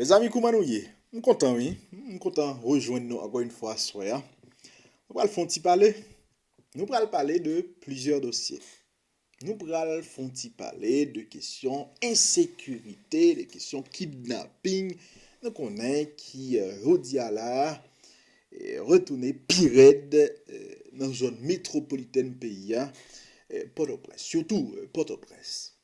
Mezanmi kouman nou ye? M kontan wi, m kontan rejwenn nou ankò yon fwa aswè a. Nou pral fon ti pale. Nou pral pale de plizyè dosye. Nou pral fon ti pale de kesyon ensekirite, de kesyon kidnaping. Nou konnen ki jodi a la a, retounen pi rèd nan zòn metropolitèn peyi a, Pòtoprens, sitou Pòtoprens.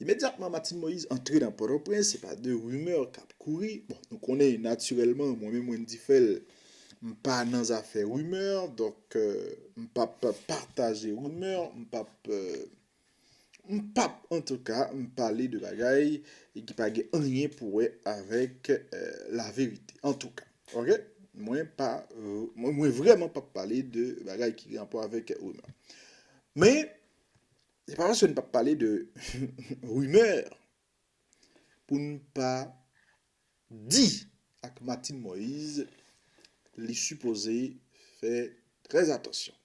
Imedyatman Martine Moïse antre nan Pòtoprens, se pa de rimè k ap kouri, bon nou konnen natirèlman mwen menm Wendy Phel m pa nan zafè rimè, donk m p ap pataje rimè, m p ap m p ap antouka m pale de bagay ki pa gen anyen pou wè avèk laverite antouka ok, mwen pa mwen vrèman p ap pale de bagay ki gen rapò avèk rimè men. Se pa paske n pap pale de rumeur pou n pa di ak Martine Moise li sipoze fè trè atansyon.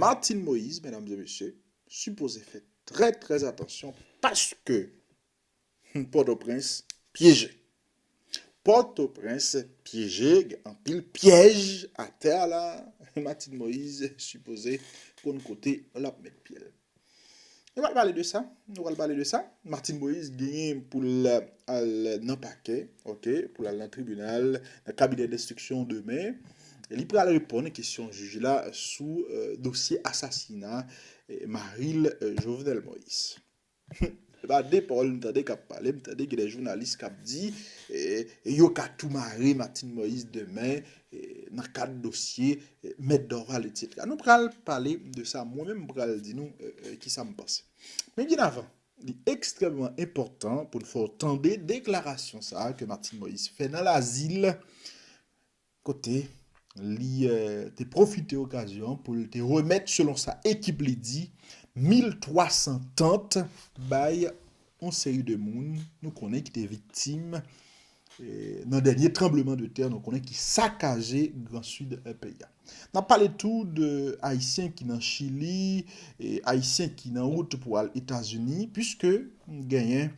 Martine Moise, medam e mesye, sipoze fè trè trè atansyon paske Pòtoprens pyeje. Pòtoprens pyeje gen anpil pyèj atè a la Martine Moise sipoze konn kote lap met pyel. Nou pral pale de sa, nou pral pale de sa. Martine Moise genyen pou l al nan pakè ok, pou l al nan tribinal, nan kabinè denstriksyon demen. Li pral reponn kesyon jij la sou dosye asasina mari l Jovenel Moise. Humm epa de pawòl m tande kap pale m tande gen de jounalis kap di yo ka tou mare Martine Moïse demen nan kad dosye mèt Dorval etc. Nou pral pale de sa mwen menm m pral di nou kisa m panse. Men byen avan li ekstrèmman enpòtan pou n fè w tande deklarasyon sa ke Martine Moïse fè nan Lazil kote li te pwofite okazyon an pou l te remèt selon sa ekip li di 1300 tant bay yon seri de moun nou konnen ki te viktim nan dènye tranbleman de tè nou konnen ki sakaje gran sid peyi a. N ap pale tou de ayisyen ki nan chili, ayisyen ki nan wout pou al etazini puiske genyen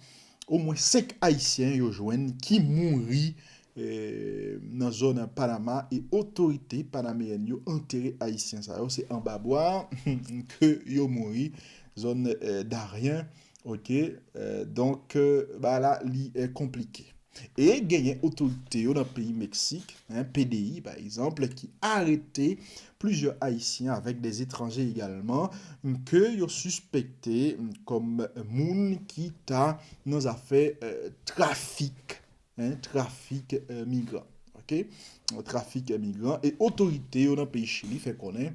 omwen 5 ayisyen yo jwenn ki mouri nan zòn Panama e otorite panameyèn yo antere ayisyen sa yo se anba bwa ke yo mouri zòn Darien ok donk bagay la li konplike e genyen otorite yo nan peyi Meksik pdi pa egzanp ki arete plizyè ayisyen avèk de etranje egalman ke yo sispekte kòm moun ki ta nan zafè trafik Hein trafik migran ok trafik migran e otorite yo nan peyi chili fè konnen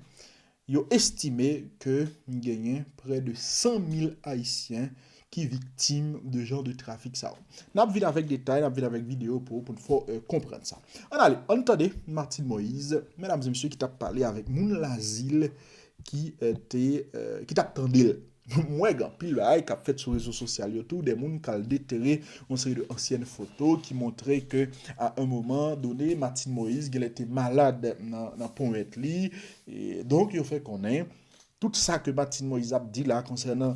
yo estime ke genyen prè de 100 mil ayisyen ki viktim de jan de trafik sa yo nap vin avèk detay nap vin avèk video pou poun fè w konprann sa ann ale ann tande Martine Moise medam e mesye ki tap pale avèk moun lazil ki te ki tap tande l. M wè gen anpil bagay k ap fèt sou rezo sosyal yo tou, dè moun k al detere yon seri de ansyèn foto ki montre ke a un moman done Martine Moïse genlè te malad nan ponyèt li, donk yo fè konnen tout sa ke Martine Moïse ap di la konsènan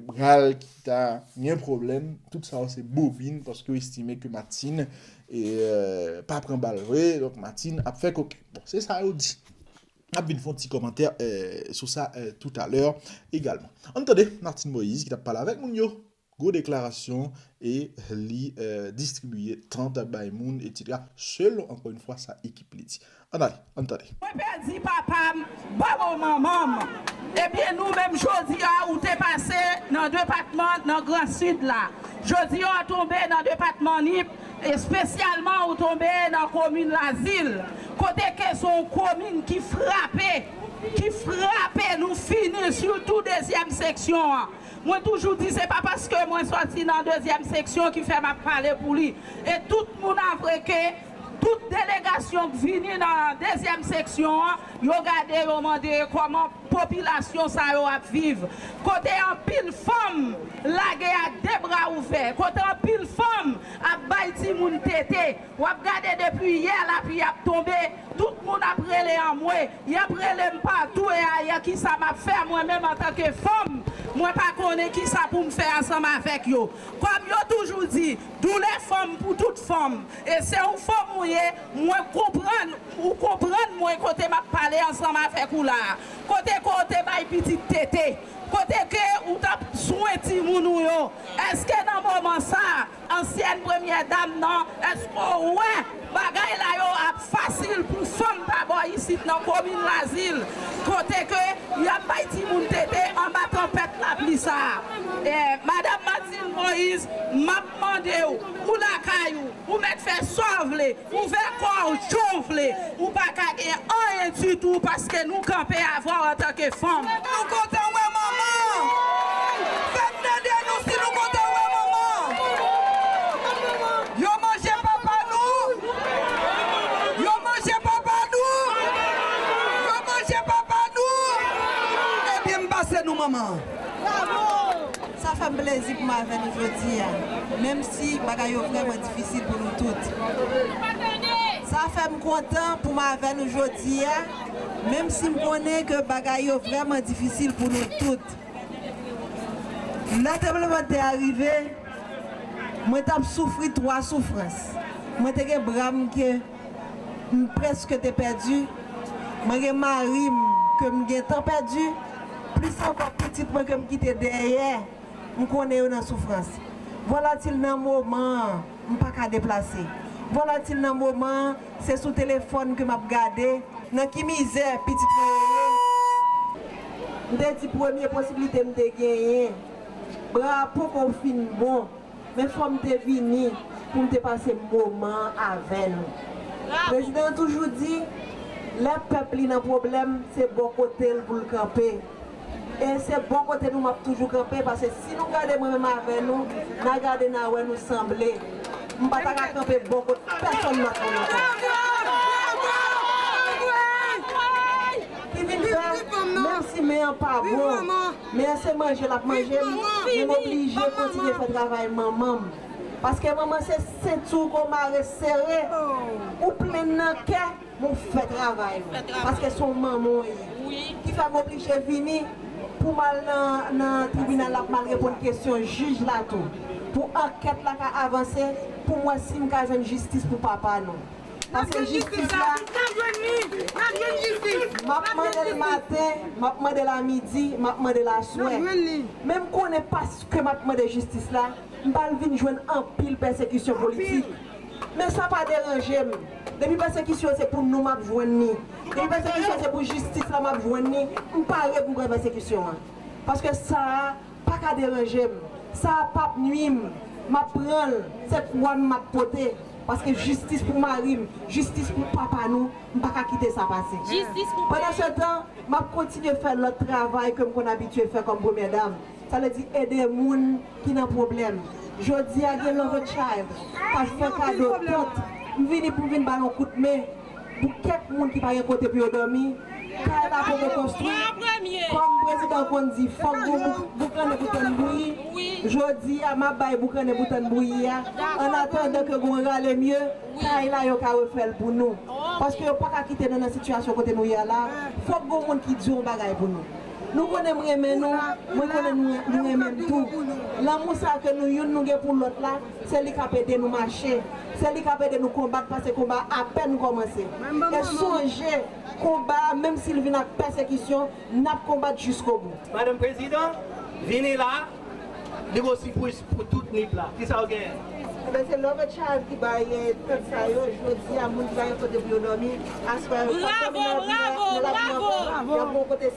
bra l ki ta gen pwoblèm, tout sa yo se bobin paske yo estime ke Martine pa pran bal vre, donk Martine ap fè koken. Bon, se sa yo di. Nap vin fè yon ti kòmantè sou sa toutalè egalman. Ann tande Martine Moïse ki tap pale avèk moun yo, gwo deklarasyon e li distribiye tant bay moun etsetera selon ankò yon fwa sa ekip li di. Ann ale, ann tande. Mwen pèdi papa m, banm w manman m. Ebyen nou menm jodi a ou te pase nan depatman nan gran sid la. Jodi a w tonbe nan depatman Nip Espesyalman ou tonbe nan komin Lazil, kote ke se yon komin ki frape, ki frape nou fini, sitou dezyèm seksyon an. Mwen toujou di se pa paske mwen sòti nan dezyèm seksyon ki fè m ap pale pou li. E tout moun avwe ke tout delegasyon k vini nan dezyèm seksyon an, yo gade yo mande kòman. Popilasyon sa yo ap viv kote anpil fanm lage a de bra ouvè, kote anpil fanm ap bay timoun tete. W ap gade depi yè lapli ap tonbe, tout moun ap rele anmwe, y ap rele m patou e ayè ki sa m ap fè mwen menm antanke fanm, mwen pa konnen ki sa pou m fè ansanm avèk yo. Kòm yo toujou di, doulè fanm pou tout fanm e se yon fanm ou ye, mwen konprann. Ou konprann mwen kote map pale ansanm avèk ou la a? Kote ke w te bay pitit tete? Kote ke ou tap swen timoun ou yo? Eske nan moman sa a, ansyèn premyè dam nan, eske w wè bagay la yo ap fasil pou fanm pa bò isit nan komin Lazil kote ke yap bay timoun tete anba tanpèt lapli sa a? Madam Martine Moïse, map mande w, ou lakay ou, Ou mèt fè sa w vle, ouvè kò w jan w vle, ou pa ka gen anyen ditou paske nou kanpe avè w antanke fanm. Nou kontan wè manman! Fè m tande nou si nou kontan wè manman! Yo manje papa nou! Yo manje papa nou! Yo manje papa nou! Ebyen m pase nou manman! Sa fè m plezi pou m avè nou jodi a, menm si bagay yo vrèman difisil pou nou tout. Sa fè m kontan pou m avè nou jodi a, menm si m konnen ke bagay yo vrèman difisil pou nou tout. Lè tranblemanntè a rive, mwen t ap soufri twa soufrans. Mwen te gen bra m ke. m prèske te pèdi, mwen gen mari m ke m gentan pèdi, plis ankò pitit mwen ke m kite dèyè, m konnen yo nan soufrans. Volatil nan moman an, m pa ka deplase. Volatil nan moman an, se sou telefòn ke m ap gade. Nan ki mizè pitit mwen yo ye? M te di premye posiblite m te genyen, bra a poko fin bon. Men fòm te vini poum te pase moman an avè nou. Prezidan an toujou di lè pèp li nan pwoblèm se bò kote l pou l kanpe. E se bò kote nou map toujou kanpe pase si nou gade mwen menm avè nou na gade na wè nou sanble. M pa ta ka kanpe bò kot pèsonn lòt moun ankò. Ki vin fè menm si men an pa bon Men se manje lap manje m men m oblije kontinye fè travay manman m paske manman se senti w ke w mare sere ou plenn nan kè men w fè travay ou paske se w manman w ye ki fè m oblije vini pou m al nan tribinal la pou m al reponn kesyon jij la tou pou ankèt la ka avanse pou m wè si m ka jwenn jistis pou papa nou. Nap jwenn jistis la. Nap jwenn li. Nap jwenn jistis. Map mandel maten, map mandel a midi, map mandel a swè. Nap jwenn li. Men m konnen paske map mande jistis la, m pral vin jwenn anpil pèsekisyon politik. Men sa pa deranje m. Depi pèsekisyon se pou nou map jwenn ni. Depi pèsekisyon se pou jistis la map jwenn ni. M pare pou m pran pèsekisyon an. Paske sa a. pa ka deranje m, sa a pap nwi m, m ap pran l, se kwa m m ap pote, paske jistis pou mari m, jistis pou papa nou, m pa ka kite sa pase. Pandansetan, m ap kontinye fè lòt travay ke m konn abitye fè kòm premyè dam, sa vle di ede moun ki nan pwoblèm. Jodi a gen Love a Child k ap fè kado tant, m vini pou m vin ba l yon kout men. pou kèk moun ki pa gen kote pou yo dòmi, kay la poko konstwi, kòm prezidan konn di fòk g'on boukannen pou tann bouyi, jodi a m'ap bay boukannen pou tann bouyi a, an atandan ke g'on rale mye, kay la yo ka refè'l pou nou, paske yo paka kite nou nan sitiyasyon kote nou ye a la, fòk g'on moun ki di yon bagay pou nou. Nou konnen m'renmen nou, mwen konnen nou renmen'm tou, lanmou sa ke nou youn nou gen pou lòt la, Se li k ap ede nou mache. Se li k ap ede nou konbat pase konba a apèn kòmanse. E sonje, konba a menm si l vin ak pèsekisyon, n ap konbat jiskobou. Madan Prezidan, vini la, li gwo sipriz pou tout nip la. Ki sa ou genyen? Enben, se Love a Child ki bay tant sa yo. Jodi a, moun ki pa gen kote pou yo dòmi, aswè yo, fantòm yo nan lavi a, nan lavi ankò. Y ap gen yon kote.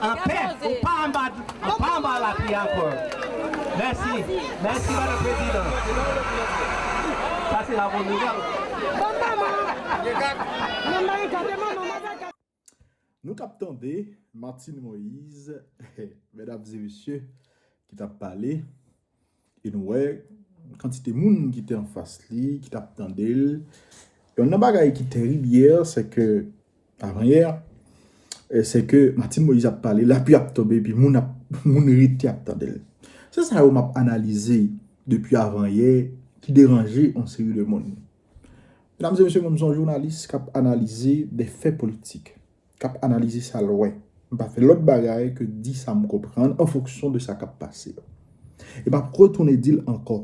Anpè ou pa anba ou pa anba lapli ankò mèsi mèsi madame president sa se la bonne nouvelle. Nou tap tande Martine Moise, mesdames et messieurs, ki tap pale. E nou wè kantite moun ki te anfas li, ki t ap tande l. Yon nan bagay ki terib yè, se ke, avan yè, se ke Martine Moïse ap pale, lapli ap tonbe epi moun ap, moun rete ap tande l. Se sa yo m ap analize depi avan yè ki deranje yon seri de moun. Medam e mesye, mwen m son jounalis k ap analize de fè politik. kap analize sa l wè. M pa fè lòt bagay ke di sa m konprann an fonksyon de sa kap pase. E m ap retounen di l ankò,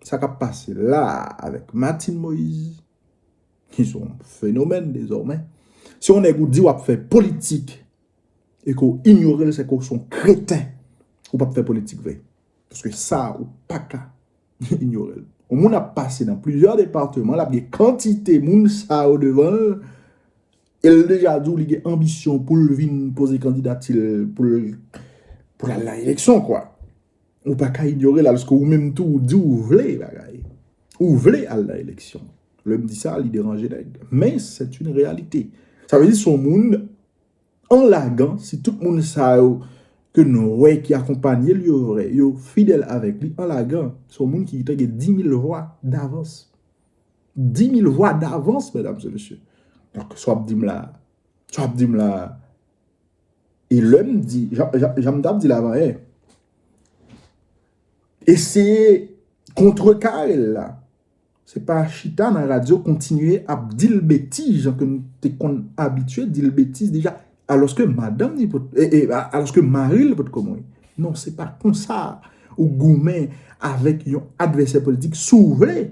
sa kap pase la a avèk Martine Moïse, ki s on fenomèn dezòmè, si yon nèg ou di w ap fè politik e ke w inyore l se ke w s on kreten, ou p ap fè politik vre. Paske sa a ou pa ka inyore l. Yon moun ap pase nan plizyè departeman, l ap gen kantite moun sa yo devan l, E l deja di w li gen anbisyon pou l vin poze kandidati l pou l al nan eleksyon kwa. Ou pa ka inyore l alòske ou menm tou ou di w vle bagay. Ou vle al nan eleksyon. Lè m di sa li deranje nèg. Men sèt yn reyalite. Sa vle di s on moun an lagan si tout moun sa yo ke n wè ki akonpanye l yo vrè, yo fidèl avèk li an lagan s on moun ki te gen 10 mil vwa davans. 10 mil vwa davans medam se mesye. Donk sa w ap di m la, sa w ap di m la, e lè m di, jan m ta p di la avan e, eseye kontre kare l la, se pa chita nan radyo kontinye ap di l betiz jan ke m te konn abitye di l betiz deja Aloske madanm ni pot, e, e, a, aloske mari l pot ko mouri. Non, se pa konsa ou goumen avèk yon advèsè politik si w vle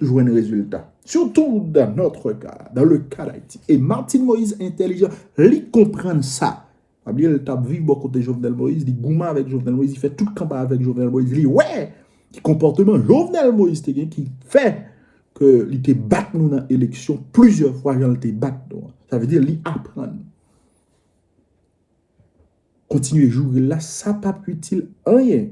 jwenn rezilta. Sitou dan notre ka, dan le ka d'Ayiti. E Martine Moïse entèlijan, li konprann sa. Pa bliye l t ap viv bò kote Jovenel Moïse, li goumen avèk Jovenel Moïse, li fè tout kanpay avèk Jovenel Moïse, li wè! Ki konpòteman Jovenel Moïse te gen ki fè ke li te bat nou nan eleksyon plizyè fwa jan li te bat nou an. Sa vle di li aprann. Kontinye joure la, sa pa p itil anyen.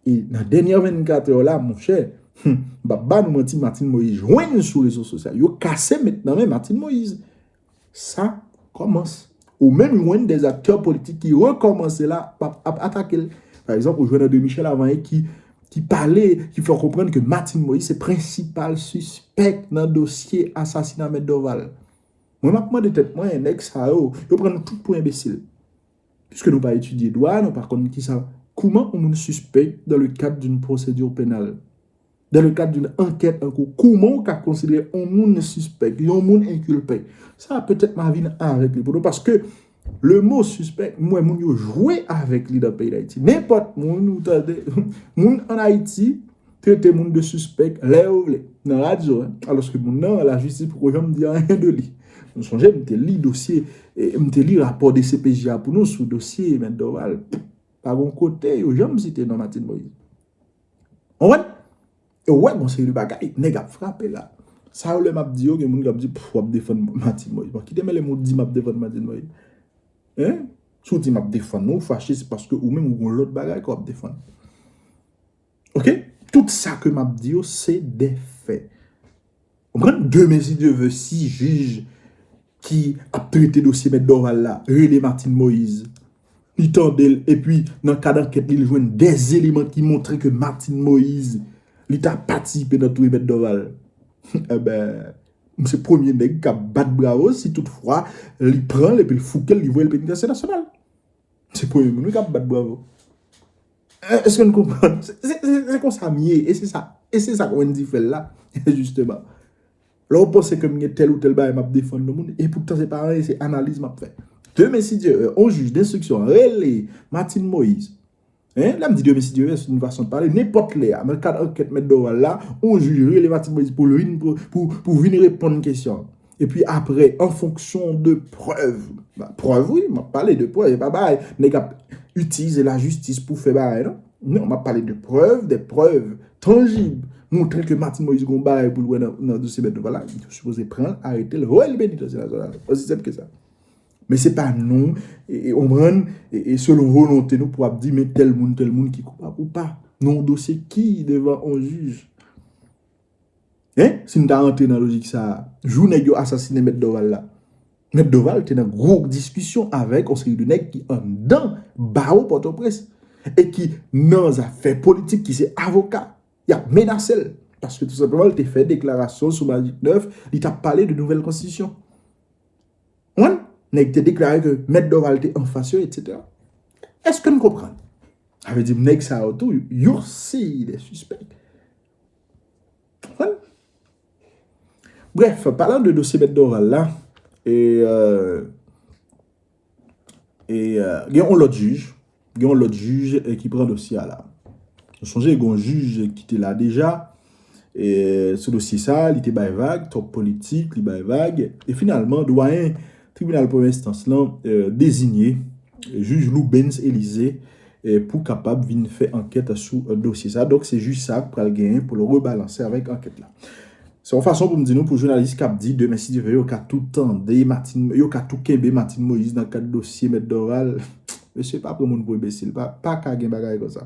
E nan dènyè 24 èw la, mon chè, m pa p ba nou manti, Martine Moïse jwenn sou rezo sosyal yo, kase met nan men Martine Moïse. Sa kòmanc. Ou menm jwenn des acteurs politiques ki rekòmanse la pap ap atake l. Pa egzanp, ou jwenn André Michel Avanyè ki ki pale, ki fè w konprann ke Martine Moïse se prensipal sispèk nan dosye asasina Mèt Dorval. Mwen map mande tèt mwen, nèg sa yo, yo pran nou tout pou enbesil. Piske nou pa etidye dwa, nou pa konn kisa, kouman yon moun sispèk dans le cadre d'une procédure pénale? Dan le kad doun ankèt an kou, kouman ou ka konsidere on moun sispèk, yon moun enkilpe? Sa a petèt ma vin avèk li pou nou paske le mo sispèk m wè moun yo jwe avèk li nan peyi Dayiti. Nenpòt moun ou tande, moun an Ayiti trete moun de sispèk lè yo vle nan radyo a, alòske moun nan lajistis poko janm di anyen de li. Nou sonje m te li dosye, m te li rapò dcpj a pou nou sou dosye Mèt Dorval, pa gon kote yo janm site non Martine Moïse. Konprann? E ou wè gon seri de bagay nèg ap frape la. Sa yo lè m ap di yo gen moun k ap di w ap defann Martine Moïse. Bon ki te mele m ou di m ap defann Martine Moïse? Hein? Si w di m ap defann ou, ou fache se paske ou menm ou gon lòt bagay ke w ap defann. Ok? Tout sa ke m ap di yo se de fè. Ou konprann? De mezi de ve si jij ki ap trete dosye mèt Dorval la rele Martine Moïse, li tande l epi nan kad ankèt li li jwenn de eleman ki montre ke Martine Moïse li ta patisipe nan touye mèt Dorval. Enbè, m se premye nèg k ap bat bravo si tout fwa li pran l epi l fouke l li voye l penitansye nasyonal. M se premye moun wi k ap bat bravo. Eske n konprann? Se konsa m ye, e se sa, e se sa Wendy fè l la, jisteman. Lè w panse ke m gen tèl ou tèl bagay m ap defann yon moun, e poutan se pa anyen, se analiz m ap fè. Demen si Dye vè, yon jij denstriksyon rele Martine Moïse, hein, lè m di demen si Dye vè, se yon fason de pale, nenpòt lè a, nan kad ankèt mèt Dorval la, yon jij rele Martine Moïse pou l vin, pou, pou vin reponn kesyon. Epi aprè an fonksyon de prèv, prèv wi, m ap pale de prèv, e pa bagay nèg ap itilize lajistis pou fè bagay non, non m ap pale de prèv, de prèv tanjib, montre ke Martine Moïse gon bagay pou l wè nan dosye Bertho Valas, li te sipoze pran l, arete l, voye l beni dosye Bertho Valas, osi senp ke sa. Men se pa nou, ou konprann, e selon volonte nou pou ap di men tèl moun, tèl moun ki koupab ou pa, nan yon dosye ki devan yon jij. Hein si nou ta rantre nan lojik sa a, jou nèg yo asasinen mèt Doval la, mèt Doval te nan gwo diskisyon avèk yon seri de nèg ki anndan bawo Pòtoprens e ki nan zafè politik ki se avoka, y ap menase l paske tou senpleman l te fè deklarasyon sou Majik 9, li t ap pale de nouvèl konstitisyon. Konprann? Nèg te deklare ke mèt Doval te anfas yo etsetera. Eske n konprann? Sa vle di nèg sa yo tou yon seri de sispèk. Bref, palan de dosye mèt Dorval la, gen yon lòt jij, gen yon lòt jij ki pran dosye a la. Nou sonje gen yon jij ki te la deja, sou dosye sa, li te bay vag, twòp politik, li bay vag, e finalman, dwayen Tribinal premyè enstans lan dezinye jij Loubens Elize pou kapab vin fè ankèt sou dosye sa. Donk se jij sa k pral genyen pou l rebalanse avèk ankèt la. Se yon fason pou m di nou pou jounalis k ap di demen si Dye vle yo ka tou tande Martine, yo ka tou kenbe Martine Moïse nan kad dosye mèt Doral, mesye pa pran moun pou enbesil, pa ka gen bagay konsa.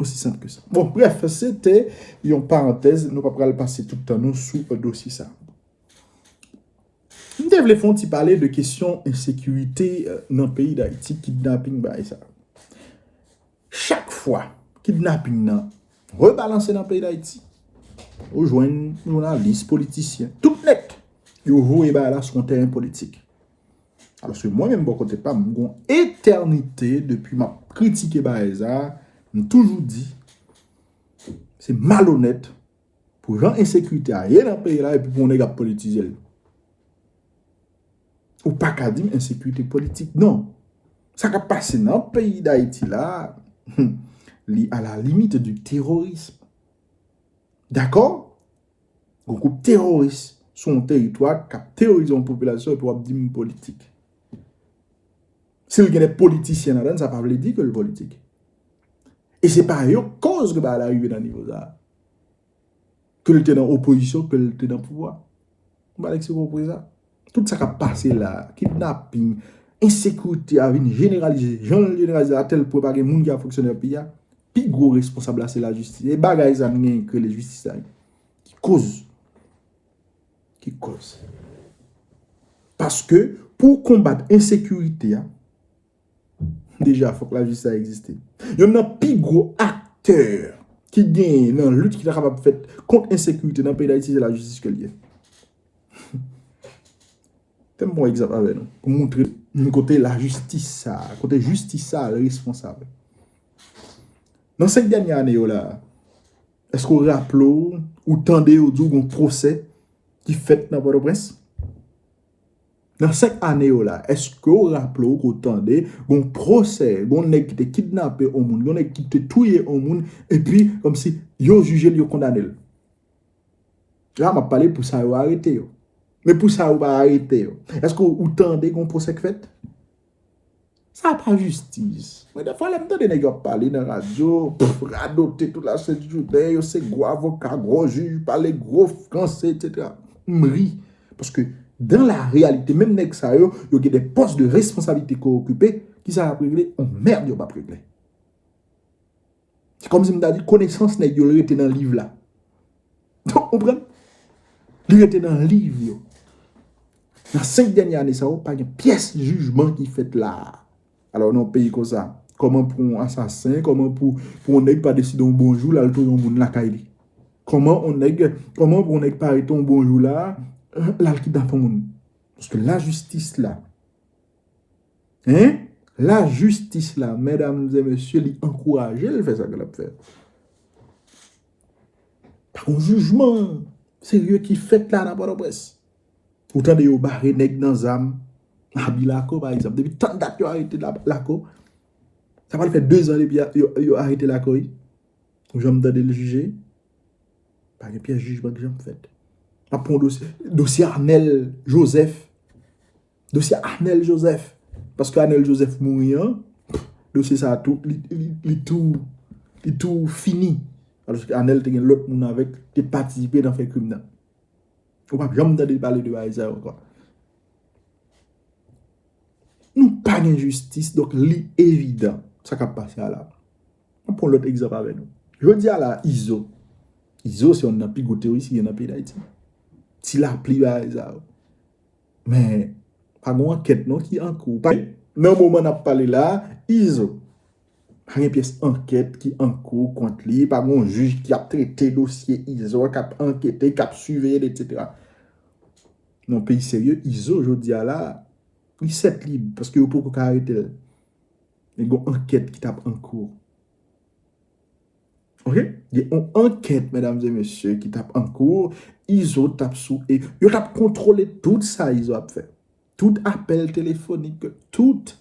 Osi senp ke sa. Bon, bref, se te yon parantèz, nou pa pral pase tout tan nou sou dosye sa. M te vle fon ti pale de kesyon ensekirite nan peyi Dayiti, kidnaping bay sa. Chak fwa kidnaping nan rebalanse nan peyi Dayiti, ou jwenn jounalis, politisyen, tout nèt yo voye bay la sou yon teren politik. Alòske mwen menm bò kote pa m, m gon etènite depi m ap kritike Baeza, m toujou di, se malonèt pou jan ensekirite a ye nan peyi la epi pou yon nèg ap politize l. Ou pa ka di m ensekirite politik non. Sa k ap pase nan peyi Dayiti la, li a la limit di terorism. Dakò? Yon gwoup teworis sou yon teritwa k ap teworize yon popilasyon epi w ap di m politik. Si l gen de politisyen ladan l sa pa vle di ke l politik. E se pa yo k koz ke bagay la rive nan nivo sa a. Ke l te nan opozisyon, ke l te nan pouvwa. M pa vle di se pou w pran sa. Tout sa kap pase la, kidnaping, ensekirite a vin jeneralize, jan l jeneralize a tèl pwen pa gen moun ki ap fonksyone nan peyi a, pi gwo responsab la se lajistis. E bagay sa nou genyen ki rele jistis la ki koz, ki koz. Paske pou w konbat ensekirite a. Deja fok lajistis sa egziste. Yonn nan pi gwo aktè ki genyen nan lit ki ta kapab fèt kont ensekirite nan peyi Dayiti se lajistis ke l ye. Fè m pran yon egzanp avè nou pou m montre nou kote lajistis sa, kote jistis sa responsab. Nan 5 dènye ane yo la, èske ou raple ou, ou tande yo di w gon pwosè ki fèt nan Pòtoprens? Nan 5 ane yo la, eske w raple w ke w tande gon pwosè, gon nèg ki te kidnape on moun, gon nèg ki te touye on moun, epi kòmsi yo jije l, yo kondane l? La m ap pale pou sa yo arete yo. Men pou sa yo pa arete yo, eske w tande gon pwosè k fèt? Sa pa jistis. Mwen defwa lem tande neg yo ap pale nan radyo, pff radote tout la sent jounen, yo se gwo avoka, gwo jij, pale gwo franse etc. M ri. Paske dan la reyalite menm neg sa yo, yo gen de pos de responsabilite ke okipe, kisa yap regle? On merd yo pap regle. Se kòm si m ta di konesans nèg yo rete nan liv la. Ou konprann? Li rete nan liv yo. Nan 5 dènye ane sa yo, pa gen pyès jijman ki fèt la a. Alò nan yon peyi konsa, kòman pou yon asasen, kòman pou yon nèg pa deside yon bon jou l al touye yon moun lakay li? Kòman yon nèg, kòman pou yon nèg pa rete yon bon jou la a, l al kidnape yon moun? Paske lajistis la. Hein la justice la mesdames et messieurs li ankouraje l fè sa ke l ap fè. Pa gon jijman serye ki fèt la nan Pòtoprens. Ou tande yo bare nèg nan zam nan abi Lako pa egzanp. Depi tann dat yo arete Lako. Sa pral fè 2 zan depi yo arete Lako wi. Ou janm tande l jije? Pa gen pyès jijman ki janm fèt. Map pran yon dosye, dosye Arnel Joseph Dosye Anel Joseph, paske Anel Joseph mouri an, dosye sa tou, li tou, li tou fini. Aloske Anel te gen lòt moun avèk, te patisipe nan fè krim nan. Ou pa janm tande pale de bagay sa yo ankò. Nou pa gen jistis, donk li evidan, sa kap pase a la. Mwen pon lòt egzanp avè nou. Jodi a la, Izo, Izo se yon nan pi gwo teoris ki gen nan peyi Dayiti. Ti lapli bagay sa yo. Men, pa gen yon ankèt non ki an kou. Nan moman n ap pale la a, Izo pa gen pyès ankèt ki an kou kont li, pa gen yon jij ki ap trete dosye Izo a, k ap ankete, k ap siveye l etsetera. Nan yon peyi serye, Izo jodi a la a, li sèt lib paske yo poko ka arete l. Men gen yon ankèt ki t ap an kou. Ok gen yon ankèt medam e mesye ki tap ankou izo tap sou e yo tap kontwole tout sa izo ap fè tout apèl telefonik tout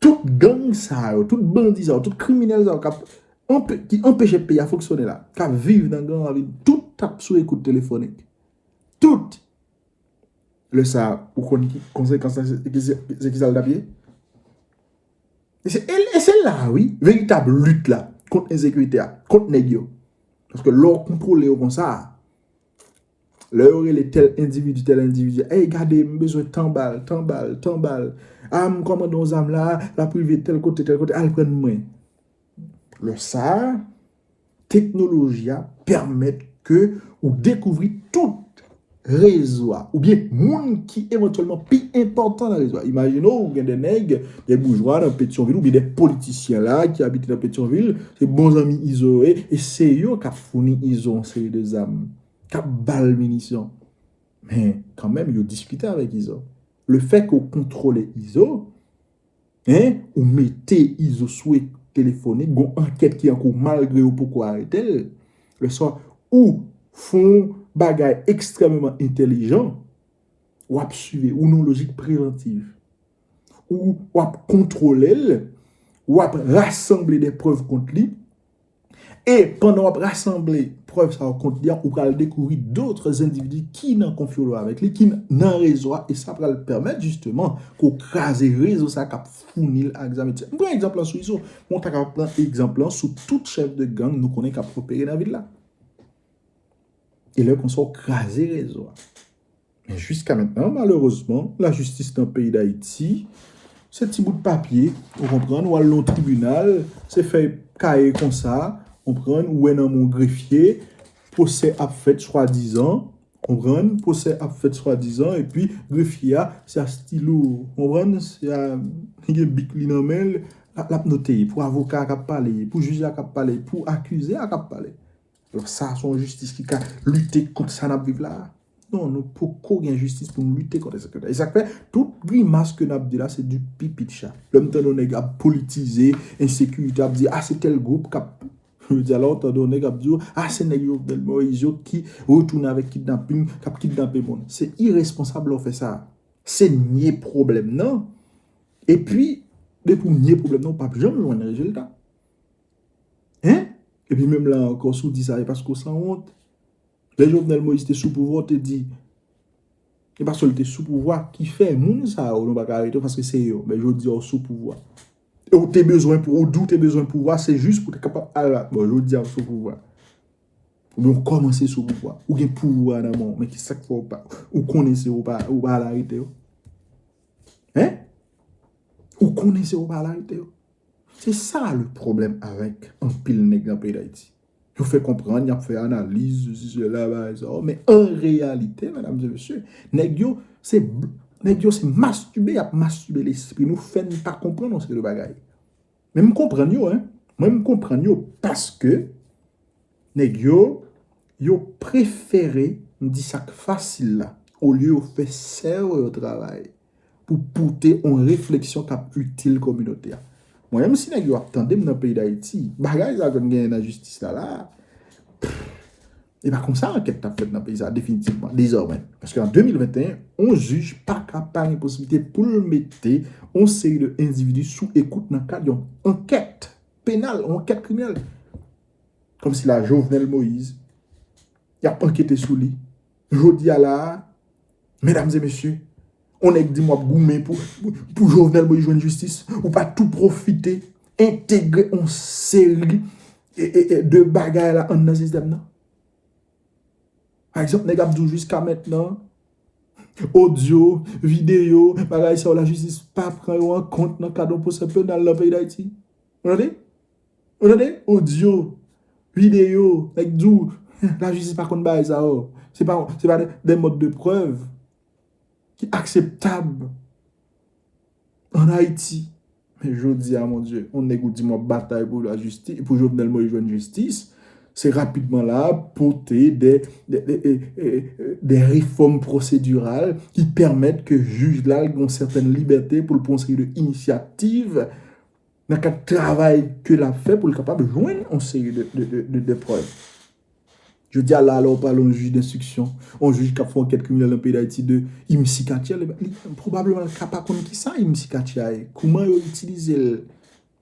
tout gang sa yo tout bandi sa yo tout kriminèl sa yo kap ki anpeche peyi a fonksyone la kap viv nan gran ravin tout tap sou ekout telefonik tout lè sa ou konn ki konsekans se ki sa l tap ye E se la a wi, veritab lit la kont ensekirite a, kont nèg yo. Paske lè w kontwole yo konsa, lè yo rele tèl endividi, tèl endividi, ey gade m bezwen tan bal, tan bal, tan bal, a m kòmande yon zam la, l ap rive tèl kote, tèl kote, al pran mwen. Lè sa a, teknoloji a pèmèt ke ou dekouvri tout rezo a, oubyen moun ki evantyèlman pi enpòtan nan rezo a. Imajine ou gen de nèg, de boujwa nan Petyonvil oubyen de politisyen la ki abite nan Petyonvil, se bon zanmi Izo yo ye, e se yo kap founi Izo yon seri de zam, kap ba l minisyon. Men, kanmenm yo diskite avèk Izo. Lefèke ou kontwole Izo, Hein ou mete izo sou e telefonik gon ankèt ki ankou malgre yo poko aretel lè sa ou fon bagay ekstrèmeman entèlijan wap swive ou nan lojik prevantiv ou wap kontwolel wap rasanble de prèv kont li E pandan wap rasanble prèv sa yo kont li an, ou pral dekouvri dotre zendividi ki nan konfyolo avèk li, ki nan rezo a, e sa pral pèmèt jisteman ke w kraze rezo sa kap founi l ak zam etisetra. M pran egzanp lan sou Izo, men w ta kapab pran egzanp lan sou tout chèf de gang nou konnen kap opere nan vil la. E lè konsa w kraze rezo a. Men jiska mentnan malerezman lajistis nan peyi dayiti se ti bout papye ou konprann ou al nan yon tribinal se fèy kaye konsa ou konprann ou wè nan men yon grefye pwosè ap fèt swadizan ou konprann pwosè ap fèt swadizan epi grefye a se a stilo ou konprann se a li gen bik li nan menl lap note pou avoka a kap pale pou jij la kap pale pou akize a kap pale Donk sa a se yon jistis ki ka lite kont sa n ap viv la a? Non, nou poko gen jistis pou nou lite kont ensekirite. E sa k fè tout grimas ke n ap di la se di pipi cha. Lè m tande yon nèg ap politize ensekirite, ap di a se tèl gwoup k ap, jodi a lè w tande yon nèg ap di w a se nèg Jovenel Moïse yo ki retounen avèk kidnaping, k ap kidnape moun. Se iresponsab lè w fè sa a. Se nye pwoblèm nan. Epi, depi w nye pwoblèm nan, ou pap janm jwenn rezilta. Hein? Epi menm la ankò si w di sa e paske w sanwont. Lè Jovenel Moïse te sou pouvwa w te di e paske l te sou pouvwa ki fè moun sa yo nou pa ka arete yo paske se yo. Men jodi a w sou pouvwa. E w te bezwen pou ou di w te bezwen pouvwa se jis pou w te kapab al ak bon jodi a w sou pouvwa. Oubyen w kòmanse sou pouvwa. Ou gen pouvwa nan men w men ki sa k fè w pa ou konnen se w pa ou pa al arete yo? Hein? Ou konnen se w pa al arete yo? Se sa le pwoblèm avèk anpil nèg nan peyi Dayiti. Yo fè konprann, y ap fè analiz, sesi sela, bagay sa a, men an reyalite, medam e mesye, nèg yo se nèg yo se mastube y ap mastube lespri nou, fè n pa konprann yon seri de bagay. Men m konprann yo, mwen m konprann yo paske. Nèg yo, yo prefere, m di sa k fasil la, olye yo fè sèvo yo travay pou pote on refleksyon k ap itil kominote a. Mwen menm si nèg yo ap tande m nan peyi Dayiti, bagay sa ke m genyen nan jistis la la a, e pa kon sa ankèt t ap fèt nan peyi sa a definitivman, dezòmè. Paske an 2021, on jij pa ka pa gen posiblite pou l mete on seri de endividi sou ekout nan kad yon ankèt penal, on ankèt kriminèl. Kòm si la Jovenel Moïse y ap ankete sou li. Jodi a la a, medam e mesye, on nèg di m w ap goumen pou Jovenel Moïse jwenn jistis, ou pa tou pwofite entegre on seri de bagay la anndan sistèm nan? Pa egzanp, nèg ap di w jiska mentnan, odyo, videyo, bagay sa yo la jistis pa pran yo an kont nan kad on pwosè penal nan peyi Dayiti. Ou tande? Ou tande audio, video nèg di w la jistis pa konn bagay sa yo. Se pa des modes de preuve ki akseptab an Ayiti. Men jodi a mon Dye, yon nèg ou di m w ap batay pou la jistis, pou Jovenel Moïse jwenn jistis, se rapidman la a pote des réformes procédurales ki pèmèt ke jij la gen yon sètèn libète pou l pran yon seri de inisyativ. nan kad travay ke lap fè pou l kapab jwenn yon seri de prèv. Jodi a la, lè ou pale yon jij denstriksyon, yon jij kap fè ankèt kriminèl nan peyi Dayiti de Imsi Katyè, pwobableman li ka pa konn ki sa Imsi Katyè a ye, kouman yo itilize l,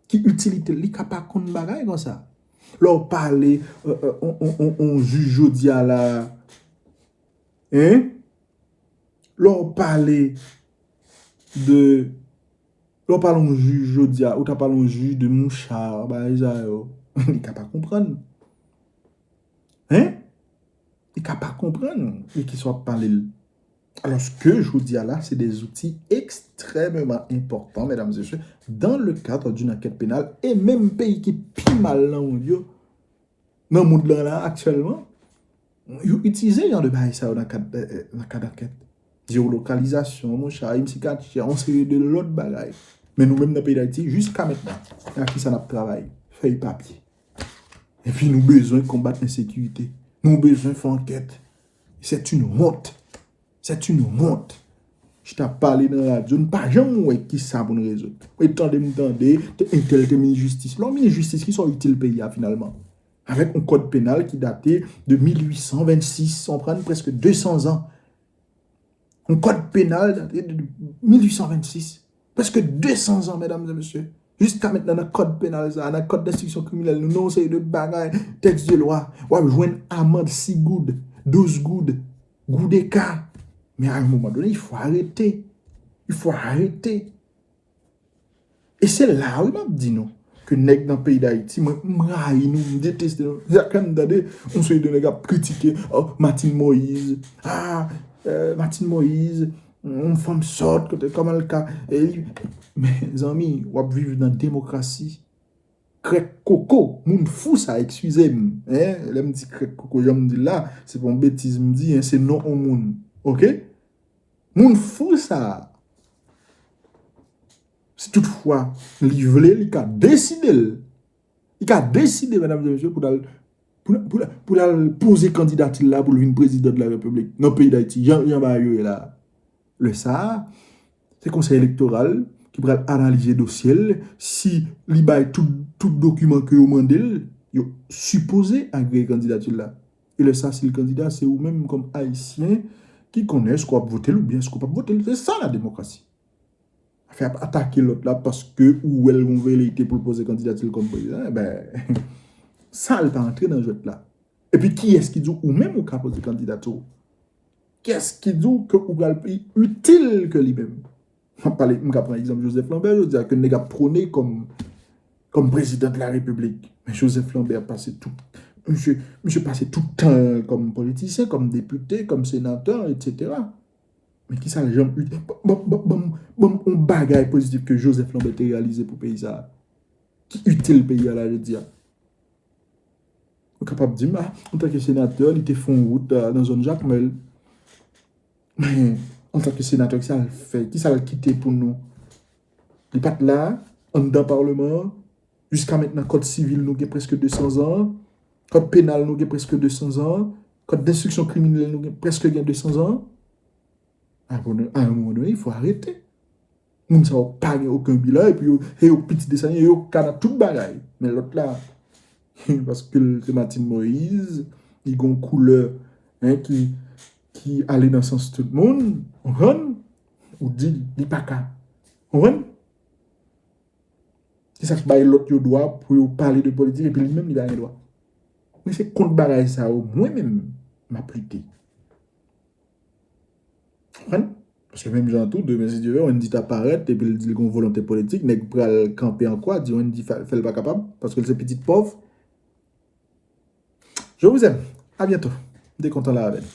ki itilite l, li ka pa konn bagay kon sa. Lè ou pale yon jij jodi a la, lè ou pale de... Lè w pale yon jij jodi a, ou ta pale yon jij de mouchard, bagay sa yo, li ka pa konprann. Hein? Li ka pa konprann de ki sa w ap pale l. Alòs ke jodi a la, se de zouti ekstrèmeman enpòtan, medam zesye, dan le kadre d'une ankèt penal, e menm peyi ki pi mal nan mond yo, nan mond lan la aktyèlman, yo itilize jan de bagay sa yo nan kad nan kad ankèt. Jewolokalizasyon, mon cha, yon ti katye, yon seri de lòt bagay. Men nou menm nan peyi Dayiti, jiska mentnan, se ak kisa nap travay? Fèy papye. Epi nou bezwen konbat ensekirite. Nou bezwen fè ankèt. Sèt yn wont. C'est une honte. Jis ap pale nan radyo, nou pa janm wè ki sa pou nou rezoud. Mwen te tande, mwen tande, entèl te minis jistis. Lè w minis jistis, ki sa w itil peyi a finalman? Avèk yon kòd penal ki date de 1826, ou konprann, prèske 200 zan. Yon kòd penal date de 1826. Prèske 200 zan mèdam e mesye. Jiska mentnan nan kòd penal sa, nan kòd denstriksyon kriminèl nou, nan yon seri de bagay, tèks de lwa, wap jwenn amand 6 goud, 12 goud, goudeka. Men a yon moman done, il fò arete. Il fò arete. E se la wi map di nou, ke nèg nan peyi dayiti, mwen m rayi nou, m deteste nou. Chak lè m tande, yon seri de nèg ap kritike, oh, Martine Moïse, ah, Martine Moïse, Yon fanm sòt kote kòman l ka eli mezanmi wap viv nan demokrasi krèk koko moun fou sa ekskize m hein lè m di krèk koko jan m di l la se pa yon betiz m di hein se non yon moun ok moun fou sa si tout fwa li vle li ka deside l. Li ka deside medam e mesye pou lal pou lal poze kandidatil la poul vin prezidan de la repiblik nan peyi dayiti jan jan bagay yo ye la lè sa se konsèy elektoral ki pral analize dosyel si li bay tout tout dokiman ke yo mandel yo sipoze agreye kandidatil la e lè sa sil kandida se ou menm kòm ayisyen ki konnen èske wap votel oubyen èske ou pap votel se sa la demokrasi. Afè ap atake lòt la paske ou wèl gon veleyite pou l poze kandidati l kòm prezidan e ben sa l pa antre nan jwèt la. E pi kiyès ki di w ou menm ou ka poze kandidati w? Kiyès ki di w ke ou pral pi itil ke li menm? M ap pale, m ka pran egzanp Joseph Lambert jodi a ke nèg ap pwone kòm prezidan de la repiblik. Men Joseph Lambert pase tout, misye pase tout tan l kòm politisyen, kòm depite, kòm senatè, etc. Men kisa l janm util. Ban m yon bagay pozitif ke Joseph Lambert te reyalize pou peyi sa a, ki itil peyi a la jodi a. Ou kapab di m, a, antanke senatè, li te fè yon wout nan zòn Jakmèl. Men, antanke senatè, kisa l fè? Kisa l kite pou nou? Li pa t la, anndan Parleman an. Jiskamentnan kòd sivil nou gen prèske 200 zan an, kòd penal nou gen prèske 200 zan an, kòd denstriksyon kriminèl nou gen prèske gen 200 zan an. A yon moman done fò arete. Moun sa yo pa gen oken bilan epi yo e yo pitit de sa e yo ka nan tout bagay. Men lòt la e paske l se Matin Moise li gon koulè en ki ki ale nan sans tout moun. Konprann? Ou di li pa ka. Konprann? Kisa k bay lòt yo dwa pou yo pale de politik epi li menm li pa gen dwa? Men se kont bagay sa yo mwen menm m ap lite. Ou konprann? Paske menm jan an tou, demen si Dye vle, Wendy ta parèt epi l di l gen yon volonte politik, nèg pral kanpe an kwa di Wendy fè l pa kapab paske l se pitit pòv. Je vous aime! A bientôt! M te kontan la avè nou.